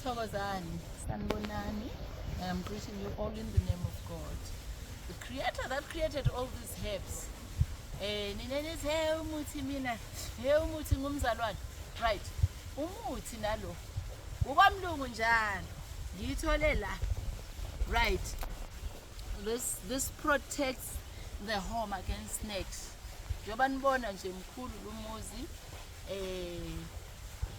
Thokozani, sanibonani. I am greeting you all in the name of God. The creator that created all these herbs. Eh nina nithi hey umuthi mina, hey umuthi ngumzalwane. Right. Umuthi nalo. Ukwamlungu njalo. Ngiyithole la. Right. This this protects the home against snakes. Njengoba nibona nje mkhulu lumuzi eh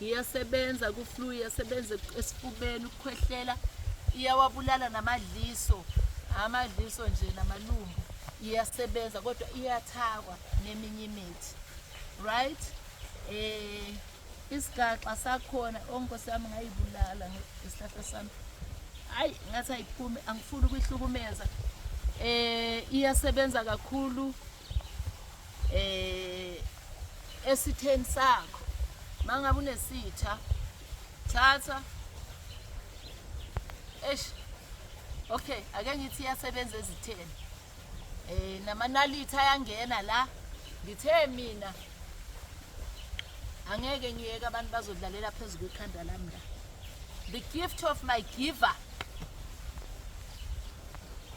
iyasebenza kuflu iyasebenza esifubeni ukukhwehlela iyawabulala namadliso amadliso nje namalungu iyasebenza kodwa iyathakwa neminye imithi right eh isigaxa sakhona onkosi oh, yami ngayibulala isihlahla sami hayi ngathi ayiphume angifuni ukuyihlukumeza eh iyasebenza kakhulu eh esitheni sakho mangabe unesitha thatha eish okay ake ngithi iyasebenza ezitheni eh namanality ayangena la ngithe mina angeke ngiyeke abantu bazodlalela phezu kwekhanda lami la the gift of my giver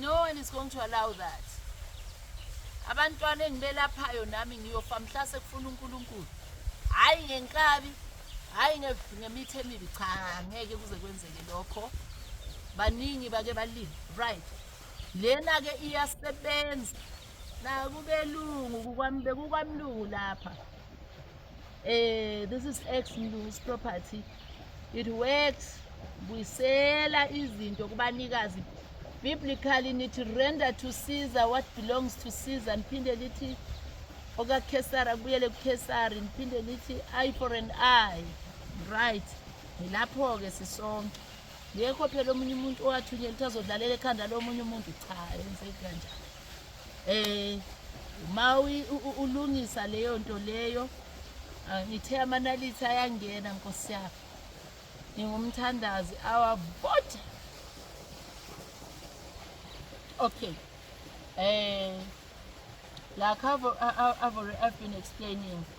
no one is going to allow that abantwana engibelaphayo nami ngiyofa mhla sekufuna unkulunkulu hhayi ngenkabi hhayi ngemithi emibi cha ngeke kuze kwenzeke lokho baningi bake balile right lena-ke iyasebenza nakubelungu kukwamlungu lapha eh this is ex Mlungu's property it works buyisela izinto kubanikazi biblically nithi render to Caesar what belongs to Caesar niphinde lithi okakhesari akubuyele kukhesari niphinde lithi eye for an eye right ngilapho-ke sisonke ngekho phela omunye umuntu owathunyela ukuthi azodlalela ekhanda lomunye umuntu cha enzeki kanjani eh uma ulungisa leyo nto leyo ah, ngithe amanalithi ayangena nkosi yami ngingumthandazi awavota okay eh like I've, I've, I've been explaining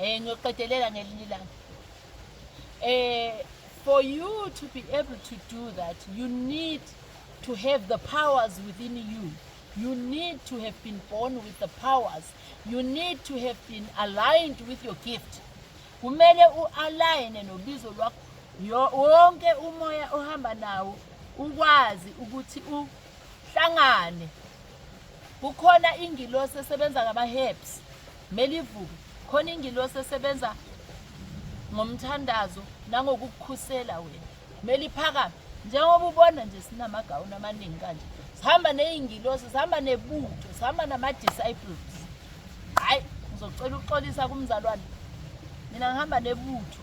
Eh ngiyoqedelela ngelinye ilanga. Eh for you to be able to do that you need to have the powers within you. You need to have been born with the powers. You need to have been aligned with your gift. Kumele ualign nobizo lwakho. Wonke umoya ohamba nawo ukwazi ukuthi uhlangane kukhona ingilosi esebenza ngama-herbs mele ivuke khona ingilosi esebenza ngomthandazo nangokukukhusela wena mele iphakame njengoba ubona nje sinamagawuni amaningi kanje sihamba ney'ngilosi sihamba nebuke sihamba nama-disciples hhayi ngizocela ukuxolisa kumzalwane mina ngihamba nebutho